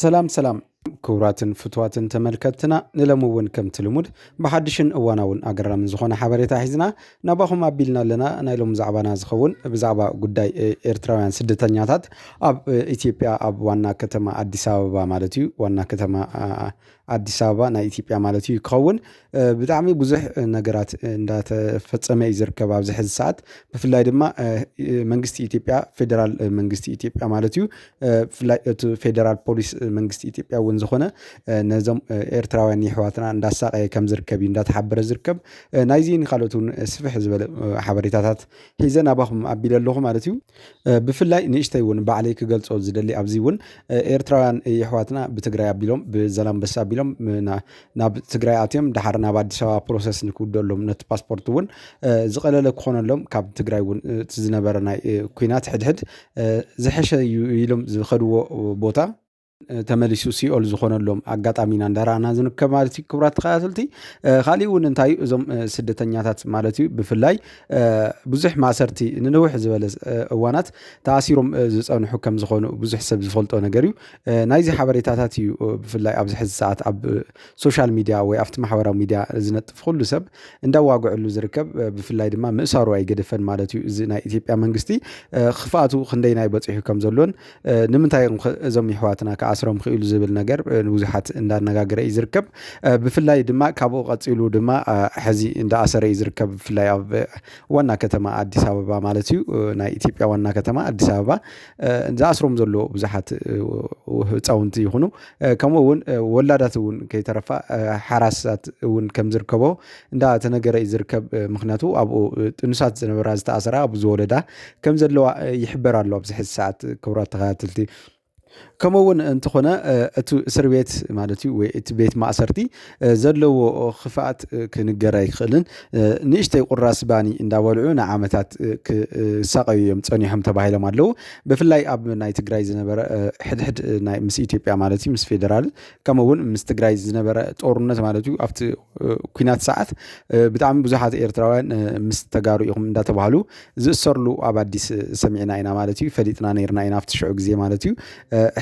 ሰላም ሰላም ክቡራትን ፍትዋትን ተመልከትና ንለሚ እውን ከምቲ ልሙድ ብሓድሽን እዋናውን ኣገራምን ዝኾነ ሓበሬታ ሒዝና ናባኹም ኣቢልና ኣለና ናይ ሎም ዛዕባና ዝኸውን ብዛዕባ ጉዳይ ኤርትራውያን ስደተኛታት ኣብ ኢትዮጵያ ኣብ ዋና ከተማ ኣዲስ ኣበባ ማለት እዩ ዋና ከተማ ኣዲስ ኣበባ ናይ ኢትዮጵያ ማለት እዩ ክኸውን ብጣዕሚ ብዙሕ ነገራት እንዳተፈፀመ እዩ ዝርከብ ኣብዚ ሕዚ ሰዓት ብፍላይ ድማ መንግስቲ ኢትዮጵያ ፌደራል መንግስቲ ኢትዮጵያ ማለት እዩ ብፍላይ እቲ ፌደራል ፖሊስ መንግስቲ ኢትዮጵያ እውን ዝኾነ ነዞም ኤርትራውያን ይሕዋትና እንዳሳቀየ ከም ዝርከብ እዩ እንዳተሓበረ ዝርከብ ናይዚን ካልኦት እውን ስፍሕ ዝበለ ሓበሬታታት ሒዘ ናባኹም ኣቢለ ኣለኹ ማለት እዩ ብፍላይ ንእሽተይ እውን ባዕለይ ክገልፆ ዝደሊ ኣብዚ እውን ኤርትራውያን የሕዋትና ብትግራይ ኣቢሎም ብዘላንበሳ ኣቢሎም ናብ ትግራይ ኣትዮም ድሓር ናብ ኣዲስ ኣበባ ፕሮሰስ ንክውደሎም ነቲ ፓስፖርት እውን ዝቐለለ ክኾነሎም ካብ ትግራይ እውን እቲ ዝነበረ ናይ ኩናት ሕድሕድ ዝሐሸ እዩ ኢሎም ዝኸድዎ ቦታ ተመሊሱ ሲኦል ዝኾነሎም ኣጋጣሚ ኢና እንዳረኣና ዝንከብ ማለት እዩ ክቡራት ተኸታተልቲ ካሊእ እውን እንታይ እዩ እዞም ስደተኛታት ማለት እዩ ብፍላይ ብዙሕ ማእሰርቲ ንንውሕ ዝበለ እዋናት ተኣሲሮም ዝፀንሑ ከም ዝኾኑ ብዙሕ ሰብ ዝፈልጦ ነገር እዩ ናይዚ ሓበሬታታት እዩ ብፍላይ ኣብዚ ሕዚ ሰዓት ኣብ ሶሻል ሚድያ ወይ ኣብቲ ማሕበራዊ ሚድያ ዝነጥፍ ኩሉ ሰብ እንዳዋግዕሉ ዝርከብ ብፍላይ ድማ ምእሳሩ ኣይገደፈን ማለት እዩ እዚ ናይ ኢትዮጵያ መንግስቲ ክፍኣቱ ክንደይናይ በፂሑ ከም ዘሎን ንምንታይ እዮም እዞም ይሕዋትና ክኣስሮም ክኢሉ ዝብል ነገር ንብዙሓት እንዳነጋገረ እዩ ዝርከብ ብፍላይ ድማ ካብኡ ቀፂሉ ድማ ሕዚ እንዳኣሰረ እዩ ዝርከብ ብፍላይ ኣብ ዋና ከተማ ኣዲስ ኣበባ ማለት እዩ ናይ ኢትዮጵያ ዋና ከተማ ኣዲስ ኣበባ ዝኣስሮም ዘለዎ ብዙሓት ህፃውንቲ ይኹኑ ከምኡ እውን ወላዳት እውን ከይተረፋ ሓራሳት እውን ከም ዝርከቦ እንዳ ተነገረ እዩ ዝርከብ ምክንያቱ ኣብኡ ጥኑሳት ዝነበራ ዝተኣሰራ ኣብ ዝወለዳ ከም ዘለዋ ይሕበር ኣሎ ኣብዚ ሕዚ ሰዓት ክብራት ተኸታተልቲ ከምኡ እውን እንተኾነ እቲ እስር ቤት ማለት እዩ ወይ እቲ ቤት ማእሰርቲ ዘለዎ ክፍኣት ክንገር ኣይክእልን ንእሽተይ ቁራስ ባኒ እንዳበልዑ ንዓመታት ክሳቀዩ እዮም ፀኒሖም ተባሂሎም ኣለዉ ብፍላይ ኣብ ናይ ትግራይ ዝነበረ ሕድሕድ ናይ ምስ ኢትዮጵያ ማለት እዩ ምስ ፌደራል ከምኡ እውን ምስ ትግራይ ዝነበረ ጦርነት ማለት እዩ ኣብቲ ኩናት ሰዓት ብጣዕሚ ብዙሓት ኤርትራውያን ምስ ተጋሩ ኢኹም እንዳተባሃሉ ዝእሰርሉ ኣብ ኣዲስ ሰሚዕና ኢና ማለት እዩ ፈሊጥና ነርና ኢና ኣብቲ ሽዑ ግዜ ማለት እዩ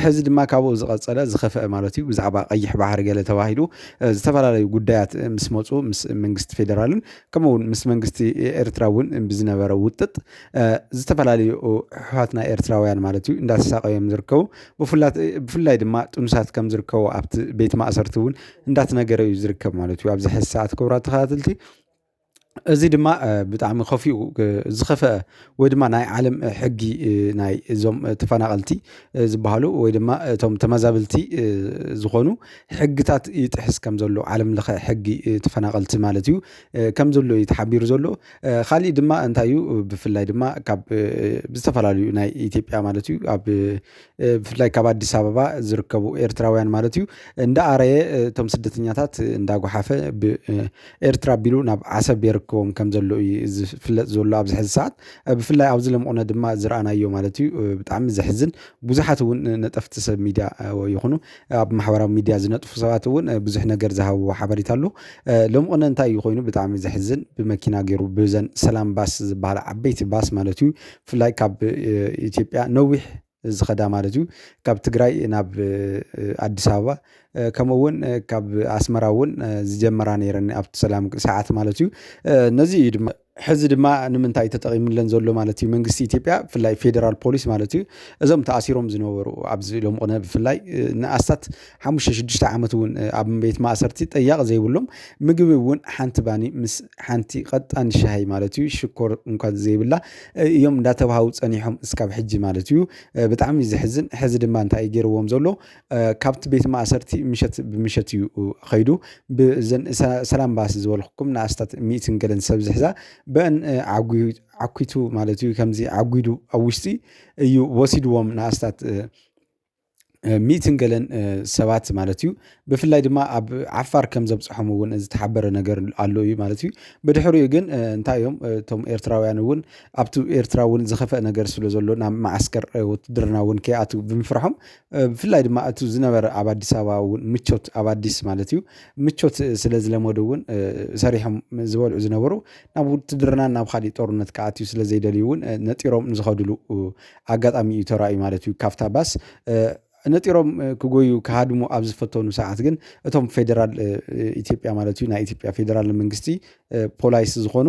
ሕዚ ድማ ካብኡ ዝቐፀለ ዝኸፍአ ማለት እዩ ብዛዕባ ቀይሕ ባሕሪ ገለ ተባሂሉ ዝተፈላለዩ ጉዳያት ምስ መፁ ምስ መንግስቲ ፌደራልን ከምኡ እውን ምስ መንግስቲ ኤርትራ እውን ብዝነበረ ውጥጥ ዝተፈላለዩ ሕሓትና ኤርትራውያን ማለት እዩ እንዳተሳቀዮም ዝርከቡ ብፍላይ ድማ ጥኑሳት ከም ዝርከቡ ኣብቲ ቤት ማእሰርቲ እውን እንዳተነገረ እዩ ዝርከብ ማለት እዩ ኣብዚ ሕዚ ሰዓት ክቡራት ተኸታተልቲ እዚ ድማ ብጣዕሚ ከፊኡ ዝኸፈአ ወይ ድማ ናይ ዓለም ሕጊ ናይ እዞም ተፈናቐልቲ ዝበሃሉ ወይ ድማ እቶም ተመዛበልቲ ዝኾኑ ሕግታት ይጥሕስ ከም ዘሎ ዓለም ለኸ ሕጊ ተፈናቐልቲ ማለት እዩ ከም ዘሎ እዩ ተሓቢሩ ዘሎ ካሊእ ድማ እንታይ እዩ ብፍላይ ድማ ካብ ዝተፈላለዩ ናይ ኢትዮጵያ ማለት እዩ ኣብ ብፍላይ ካብ ኣዲስ ኣበባ ዝርከቡ ኤርትራውያን ማለት እዩ እንዳኣረየ እቶም ስደተኛታት እንዳጓሓፈ ብኤርትራ ኣቢሉ ናብ ዓሰብ የርክቦም ከም ዘሎ እዩ ዝፍለጥ ዘሎ ኣብዚ ሕዚ ሰዓት ብፍላይ ኣብዚ ለምቑነ ድማ ዝረኣናዮ ማለት እዩ ብጣዕሚ ዘሕዝን ብዙሓት እውን ነጠፍቲ ሰብ ሚድያ ይኹኑ ኣብ ማሕበራዊ ሚድያ ዝነጥፉ ሰባት እውን ብዙሕ ነገር ዝሃብዎ ሓበሬታ ኣሎ ለምቑነ እንታይ እዩ ኮይኑ ብጣዕሚ ዘሕዝን ብመኪና ገይሩ ብዘን ሰላም ባስ ዝበሃላ ዓበይቲ ባስ ማለት እዩ ብፍላይ ካብ ኢትዮጵያ ነዊሕ ዝኸዳ ማለት እዩ ካብ ትግራይ ናብ ኣዲስ ኣበባ ከምኡ እውን ካብ ኣስመራ እውን ዝጀመራ ነይረን ኣብቲ ሰላም ሰዓት ማለት እዩ ነዚ እዩ ድማ ሕዚ ድማ ንምንታይ ተጠቒሙለን ዘሎ ማለት እዩ መንግስቲ ኢትዮጵያ ብፍላይ ፌደራል ፖሊስ ማለት እዩ እዞም ተኣሲሮም ዝነበሩ ኣብዚ ሎም ቕነ ብፍላይ ንኣስታት ሓሙሽተ ሽዱሽተ ዓመት እውን ኣብ ቤት ማእሰርቲ ጠያቂ ዘይብሎም ምግቢ እውን ሓንቲ ባኒ ምስ ሓንቲ ቀጣን ሻሂ ማለት እዩ ሽኮር እንኳን ዘይብላ እዮም እንዳተባሃው ፀኒሖም እስካብ ሕጂ ማለት እዩ ብጣዕሚ እዩ ዘሕዝን ሕዚ ድማ እንታይ እዩ ገይርዎም ዘሎ ካብቲ ቤት ማእሰርቲ ምሸት ብምሸት እዩ ከይዱ ብዘን ሰላም ባስ ዝበልኩኩም ንኣስታት ሚእትን ገለን ሰብ ዝሕዛ በን ዓኪቱ ማለት እዩ ከምዚ ዓጒዱ ኣብ ውሽጢ እዩ ወሲድዎም ንኣስታት ሚትን ገለን ሰባት ማለት እዩ ብፍላይ ድማ ኣብ ዓፋር ከም ዘብጽሖም እውን ዝተሓበረ ነገር ኣሎ እዩ ማለት እዩ። ብድሕሪኡ ግን እንታይ እዮም እቶም ኤርትራውያን እውን ኣብቲ ኤርትራ እውን ዝኸፍአ ነገር ስለ ዘሎ ናብ መዓስከር ውትድርና እውን ከይኣትው ብምፍርሖም ብፍላይ ድማ እቲ ዝነበረ ኣብ ኣዲስ ኣበባ እውን ምቾት ኣብ ኣዲስ ማለት እዩ ምቾት ስለ ዝለመዱ እውን ሰሪሖም ዝበልዑ ዝነበሩ ናብ ውትድርና ናብ ኻሊእ ጦርነት ክኣትው ስለ ዘይደልዩ እውን ነጢሮም ዝኸድሉ ኣጋጣሚ እዩ ተራእዩ ማለት እዩ ካብታ ባስ ነጢሮም ክጎዩ ክሃድሙ ኣብ ዝፈተኑ ሰዓት ግን እቶም ፌደራል ኢትዮጵያ ማለት እዩ ናይ ኢትዮጵያ ፌደራል መንግስቲ ፖላይስ ዝኾኑ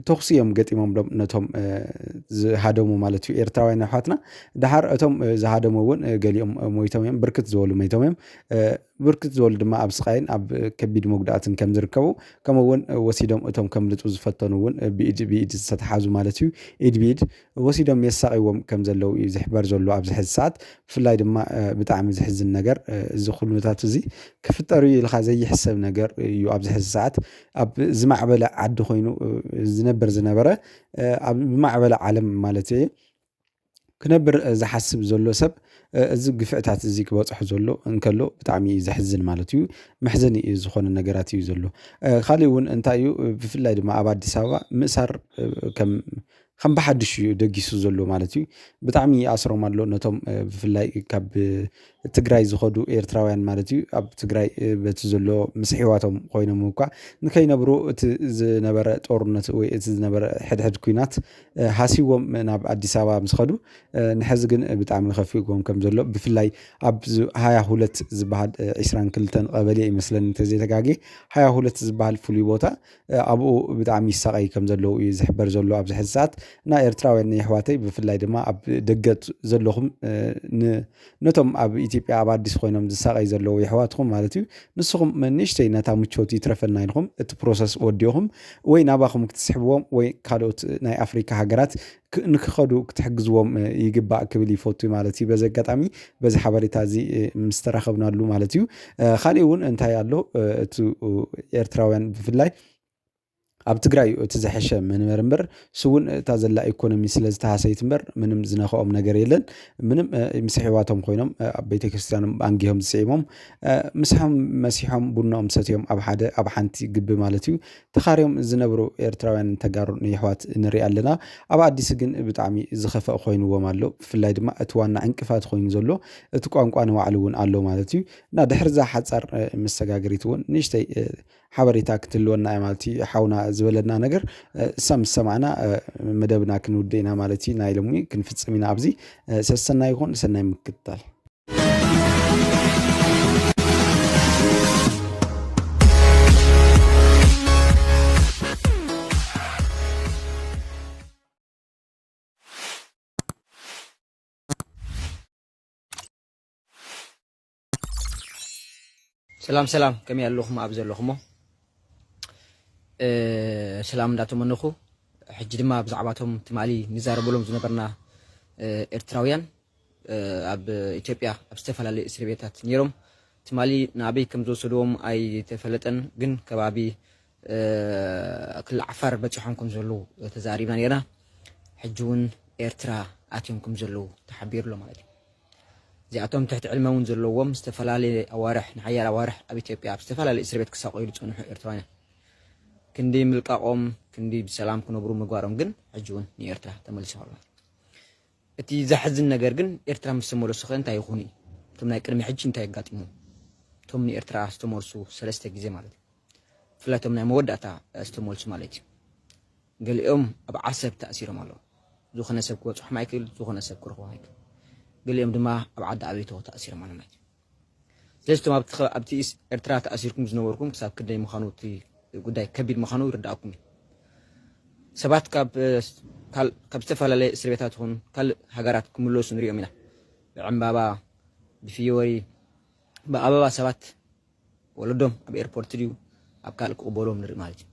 ተኽሲ እዮም ገጢሞምሎም ነቶም ዝሃደሙ ማለት እዩ ኤርትራውያን ኣሕዋትና ድሓር እቶም ዝሃደሙ እውን ገሊኦም ሞይቶም እዮም ብርክት ዝበሉ ሞይቶም እዮም ብርክት ዝበሉ ድማ ኣብ ስቓይን ኣብ ከቢድ መጉዳእትን ከም ዝርከቡ ከምኡ እውን ወሲዶም እቶም ከምልጡ ዝፈተኑ እውን ብኢድ ብኢድ ዝተተሓዙ ማለት እዩ ኢድ ብኢድ ወሲዶም የሳቒዎም ከም ዘለዉ እዩ ዝሕበር ዘሎ ኣብዚ ሕዚ ሰዓት ብፍላይ ድማ ብጣዕሚ ዝሕዝን ነገር እዚ ኩነታት እዚ ክፍጠር እዩ ኢልካ ዘይሕሰብ ነገር እዩ ኣብዚ ሕዚ ሰዓት ኣብ ዝማዕበለ ዓዲ ኮይኑ ዝነበር ዝነበረ ኣብ ዝማዕበለ ዓለም ማለት እየ ክነብር ዝሓስብ ዘሎ ሰብ እዚ ግፍዕታት እዚ ክበጽሖ ዘሎ እንከሎ ብጣዕሚ እዩ ዘሕዝን ማለት እዩ። መሕዘኒ እዩ ዝኾነ ነገራት እዩ ዘሎ። ኻሊእ እውን እንታይ እዩ ብፍላይ ድማ ኣብ ኣዲስ ኣበባ ምእሳር ከም ከም ብሓዱሽ እዩ ደጊሱ ዘሎ ማለት እዩ። ብጣዕሚ ይኣስሮም ኣሎ ነቶም ብፍላይ ካብ ትግራይ ዝኸዱ ኤርትራውያን ማለት እዩ ኣብ ትግራይ በቲ ዘሎ ምስ ሕዋቶም ኮይኖም እኳ ንከይነብሩ እቲ ዝነበረ ጦርነት ወይ እቲ ዝነበረ ሕድሕድ ኩናት ሃሲዎም ናብ ኣዲስ ኣበባ ምስ ኸዱ ንሕዚ ግን ብጣዕሚ ከፊእዎም ከም ዘሎ ብፍላይ ኣብ ሃያ ሁለት ዝበሃል ዒስራን ክልተን ቀበሌ እዩ መስለኒ እንተዘይተጋግየ ሃያ ሁለት ዝበሃል ፍሉይ ቦታ ኣብኡ ብጣዕሚ ይሳቀዩ ከም ዘለዉ እዩ ዝሕበር ዘሎ ኣብዚ ሕዚ ሰዓት እና ኤርትራውያን የሕዋተይ ብፍላይ ድማ ኣብ ደገ ዘለኹም ን ነቶም ኣብ ኢትዮጵያ ኣብ ኣዲስ ኮይኖም ዝሳቀይ ዘለዉ የሕዋትኩም ማለት እዩ ንስኩም ንእሽተይ ነታ ምቾት ይትረፈና ኢልኩም እቲ ፕሮሰስ ወዲኩም ወይ ናባኩም ክትስሕብዎም ወይ ካልኦት ናይ ኣፍሪካ ሃገራት ንክከዱ ክትሕግዝዎም ይግባእ ክብል ይፈቱ ማለት እዩ በዚ ኣጋጣሚ በዚ ሓበሬታ እዚ ምስ ተራከብናሉ ማለት እዩ ካሊእ እውን እንታይ ኣሎ እቲ ኤርትራውያን ብፍላይ ኣብ ትግራይ እዩ እቲ ዝሐሸ መንበሪ እምበር እሱ እውን እታ ዘላ ኢኮኖሚ ስለ ዝተሃሰየት እምበር ምንም ዝነኽኦም ነገር የለን። ምንም ምስ ኣሕዋቶም ኮይኖም ኣብ ቤተክርስትያኖም ኣንጊሆም ዝስዒሞም ምሳሖም መሲሖም ቡኖኦም ሰትዮም ኣብ ሓደ ኣብ ሓንቲ ግቢ ማለት እዩ ተኻርዮም ዝነብሩ ኤርትራውያን ተጋሩን የሕዋት ንሪኢ ኣለና። ኣብ ኣዲስ ግን ብጣዕሚ ዝኸፍአ ኮይንዎም ኣሎ። ብፍላይ ድማ እቲ ዋና ዕንቅፋት ኮይኑ ዘሎ እቲ ቋንቋ ንባዕሉ እውን ኣሎ ማለት እዩ። እና ድሕሪ እዛ ሓፃር መሰጋገሪት እውን ንእሽተይ ሓበሬታ ክትህልወና እያ ማለት እዩ ሓውና ዝበለና ነገር እሳ ምስ ሰማዕና መደብና ክንውድእ ኢና ማለት እዩ ናይ ሎሚ ክንፍፅም ኢና ኣብዚ ሰሰናይ ይኹን ሰናይ ምክትታል ሰላም ሰላም ከመይ ኣለኹም ኣብ ዘለኹሞ ሰላም እንዳተመነኹ ሕጂ ድማ ብዛዕባቶም ትማሊ ንዛረበሎም ዝነበርና ኤርትራውያን ኣብ ኢትዮጵያ ኣብ ዝተፈላለዩ እስር ቤታት ነይሮም ትማሊ ንኣበይ ከም ዝወሰድዎም ኣይተፈለጠን ግን ከባቢ ክልል ዓፋር በጺሖም ከም ዘለዉ ተዛሪብና ኔርና። ሕጂ ውን ኤርትራ ኣትዮም ከም ዘለዉ ተሓቢሩ ኣሎ ማለት እዩ። እዚኣቶም ትሕቲ ዕድመ ውን ዘለዎም ዝተፈላለየ ኣዋርሕ ንሓያሎ ኣዋርሕ ኣብ ኢትዮጵያ ኣብ ዝተፈላለየ እስርቤት ክሳቐዩ ዝጸንሑ ኤርትራውያን እዮም። ክንዲ ምልቃቖም ክንዲ ብሰላም ክነብሩ ምግባሮም ግን ሕጂ ውን ንኤርትራ ተመሊሱ ኣሎ። እቲ ዘሕዝን ነገር ግን ኤርትራ ምስ ተመለሱኸ እንታይ ይኹኑ እዩ? እቶም ናይ ቅድሚ ሕጂ እንታይ ኣጋጢሞም? እቶም ንኤርትራ ዝተመልሱ ሰለስተ ግዜ ማለት እዩ። ብፍላይ እቶም ናይ መወዳእታ ዝተመልሱ ማለት እዩ። ገሊኦም ኣብ ዓሰብ ተኣሲሮም ኣለዉ። ዝኾነ ሰብ ክበጽሖም ኣይክእል፣ ዝኾነ ሰብ ክረኽቦም ኣይክእል። ገሊኦም ድማ ኣብ ዓዲ ኣበይቶ ተኣሲሮም ኣለዉ ማለት እዩ። ስለዚ እቶም ኣብቲ ኤርትራ ተኣሲርኩም ዝነበርኩም ክሳብ ክንደይ ምዃኑ እቲ ጉዳይ ከቢድ ምዃኑ ይርዳእኩም እዩ ሰባት ካብ ዝተፈላለየ እስር ቤታት ይኹን ካልእ ሃገራት ክምለሱ ንሪኦም ኢና ብዕምባባ ብፍዮሪ ብኣበባ ሰባት ወለዶም ኣብ ኤርፖርት ድዩ ኣብ ካልእ ክቕበሎም ንርኢ ማለት እዩ